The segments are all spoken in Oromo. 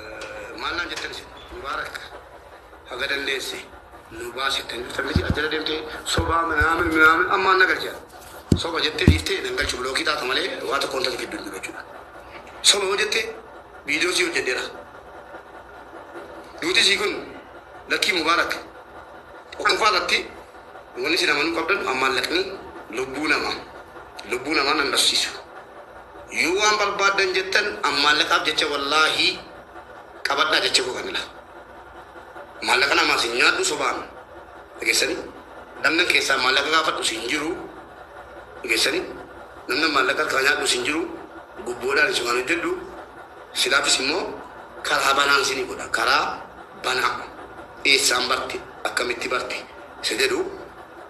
Maal naan jettan isin? Mubaarak haga dandeesse nu baasi jettanii dhuftan miti as jala deemtee sobaa minaamin minaamin ammaan na galcha. Soba jettee dhiiftee nan galchu bilookii taata malee waa tokkoon tatu gidduu hin jiru jechuudha. Soba yoo jette viidiyoo sii hojjedheera. Duuti sii kun lakkii mubaarak. Tokkoffaa irratti Wani isin amanuu qabdanu an maallaqni lubbuu nama lubbuu namaa nan dhabsiisu yoo waan barbaaddan jettan an maallaqaaf jecha wallaahii qabadhaa jecha koo kana laa maallaqa namaas hin nyaadhu sobaan dhageessanii namnan keessaa maallaqa gaafadhus hin jiru dhageessanii namnan maallaqa harkaa nyaadhus hin jiru gubboodhaan isumaan hojjedhu silaafis immoo karaa banaan isinii godha karaa banaa eessaan barte akkamitti barte isa jedhu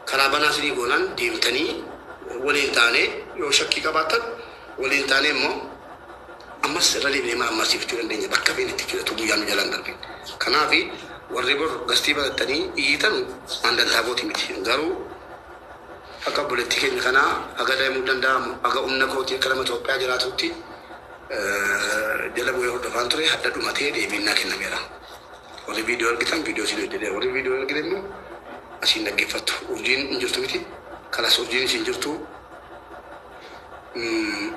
karaa banaa isinii goonaan deemtanii waliin taanee yoo shakkii qabaattan waliin taanee immoo ammas irra deebinee marammarsiifachuu dandeenya bakka feene itti jechuudha utuu guyyaan nu jalaan darbin kanaaf warri bor gastii batattanii iyyitanu an dantaa kooti miti garuu akka obboleettii keenya kanaa haga daa'imuu danda'amu haga humna kootii akka nama Itoophiyaa jiraatutti jala bu'ee hordofaan ture hadha dhumatee deebiin naa kennameera. Warri viidiyoo argitan viidiyoo isin hojjedhe warri viidiyoo hin argine immoo asiin dhaggeeffattu. Urjiin hin jirtu miti. Kalas urjiin isin jirtu. Mm.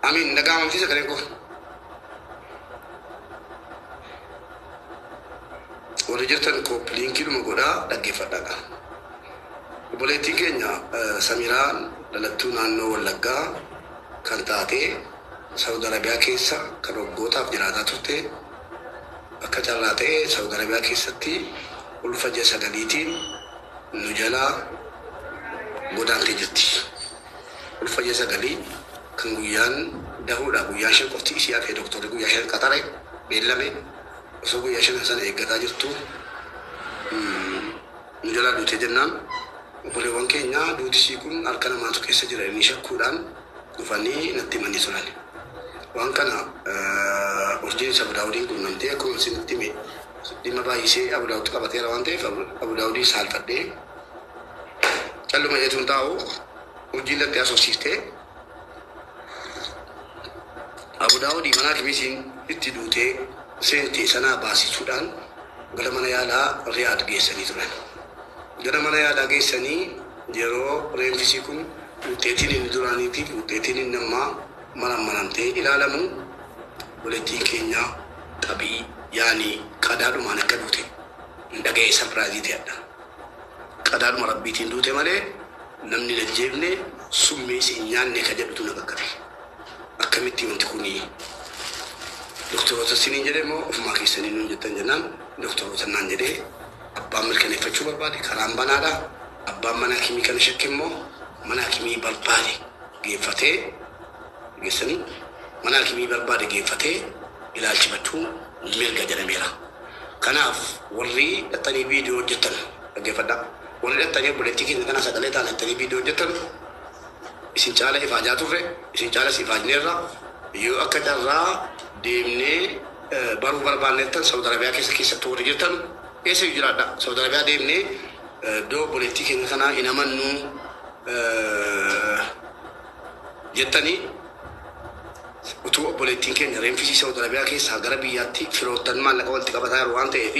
Amiin nagaa mamsiisa gareen koo. Warri jirtan kooppi liinkiidhuma godhaa dhaggeeffadhaa qaba. Obboleettiin keenya Samiraan dhalattuu naannoo Wallaggaa kan taate, Sa'ud Arabiyaa keessa kan waggootaaf jiraataa turte. Akka carraa ta'e Sa'ud Arabiyaa keessatti ulfa ji'a sagaliitiin nu jalaa godaantee jirti. Ulfa ji'a sagalii kan guyyaan dahuudha. Guyyaa shan qofti isii hafee doktorri guyyaa shan qaxare, beellame. Osoo guyyaa shanan sana eeggataa jirtuu. Nu jalaa duute jennaan obboleewwan keenya duuti ishii kun harka namaatu keessa jira jedhanii shakkuudhaan dhufanii natti himanii turan. Waan kana Urjiinis Abu Daawudiin qunnamtee akkuman isinitti hime dhimma baay'isee Abu Daawud qabateera waan ta'eef Abu Daawudiin saalfadhee calluma jedheetuun taa'u Urjiin lattee haasofsiiftee Abu Daawuud mana akimii isiin itti duutee seente sanaa baasisuudhaan gara mana yaalaa Riyaad geessanii turan. Gara mana yaalaa geessanii yeroo reenfi isii kun wuxxeetiin inni duraaniitii fi wuxxeetiin inni ammaa marammaramtee ilaalamu obboleettiin keenya Xabii yaani qadaadhumaan akka duute hin dhaga'ee sarpiraayizii ta'e hadha. Qadaadhuma Rabbiitiin duute malee namni hin ajjeefne, summiis hin nyaanne ka jedhutu na qaqqabe. Akkamitti wanti kun doktaroota isiniin jedhe moo ofumaa keessanii nuun jettan jennaan doktaroota naan jedhe. Abbaan mirkaneeffachuu barbaade karaan banaadha. Abbaan mana hakimii kana shakke immoo mana hakimii barbaade geeffatee, dhageessanii? Mana hakimii barbaade geeffatee ilaalchifachuu mirga jedhameera. Kanaaf warri dhaxxanii video hojjattan dhaggeffadha. Warri dhaxxanii obboleettii keenya kana sagalee taana jettanii video hojjattan isin caala ifaajaa turre, isin caalas ifaajneerra. Yoo akka carraa deemnee baruu barbaanne jettan Saudi Arabia keessa keessattuu warri jirtan eessa iyyuu jiraadha. Saudi Arabia deemnee iddoo obboleettii keenya kanaa hin amannu. jettanii utuu obboleettiin keenya reenfisii Saawud Arabiyaa keessaa gara biyyaatti firoottan maallaqa walitti qabataa jiru waan ta'eef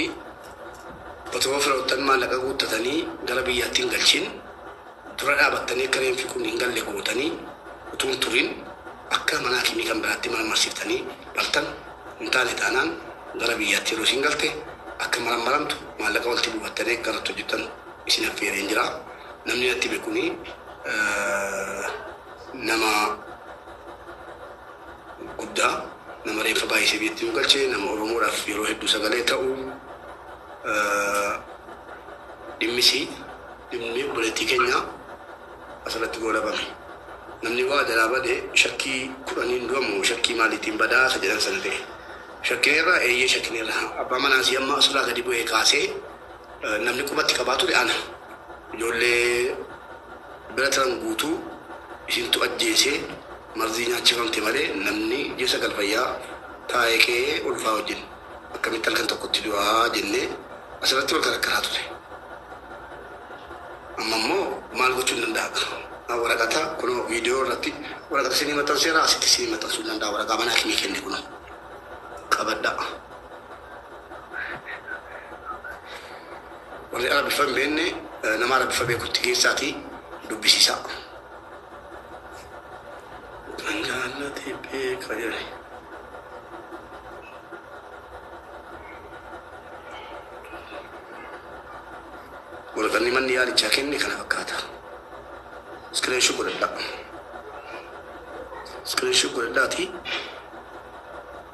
otoo firoottan maallaqa guuttatanii gara biyyaatti hin galchin dura dhaabattanii akka reenfi kun hin galle gootanii utuu hin turin akka mana hakimii kan biraatti marmarsiiftanii dhaltan hin taane taanaan gara biyyaatti yeroo isin galte akka marammaramtu maallaqa walitti buufattanii akka irratti hojjettan isin affeereen jira namni natti beekunii nama guddaa, nama reeffa baay'isee biyyatti nu galche, nama Oromoodhaaf yeroo hedduu sagalee ta'u, dhimmisii, dhimmi obboleettii keenyaa asirratti goolabame. Namni waa jalaa bade shakkii kudhaniin du'a moo shakkii maaliitiin badaa isa jedhan sana ta'e. Shakkineerraa eeyyee shakkineerra. Abbaa manaasii amma asulaa gadi bu'ee kaasee Namni qubatti qabaa ture ana. Ijoollee bira tiran guutuu isintu ajjeese, marzii nyaachifamte malee namni ji'a sagal fayyaa taa'ee qe'ee ulfaa wajjin akkamitti halkan tokkotti du'a jennee asirratti wal karakkaraa ture. Amma immoo maal gochuun danda'a? Waraqata kunoo viidiyoo irratti waraqata isinii maxxanseera asitti isinii maxxansuun danda'a waraqaa mana hakimii kenne kunoo qabadhaa. Warri Arabiffa hin beenne nama Arabiffa beekutti geessaatii dubbisiisaa. Kan jaallate beeka jedhe. Waraqanni manni yaalichaa kenne kana fakkaata. Iskiriinshoo godhadhaa. Iskiriinshoo godhadhaatii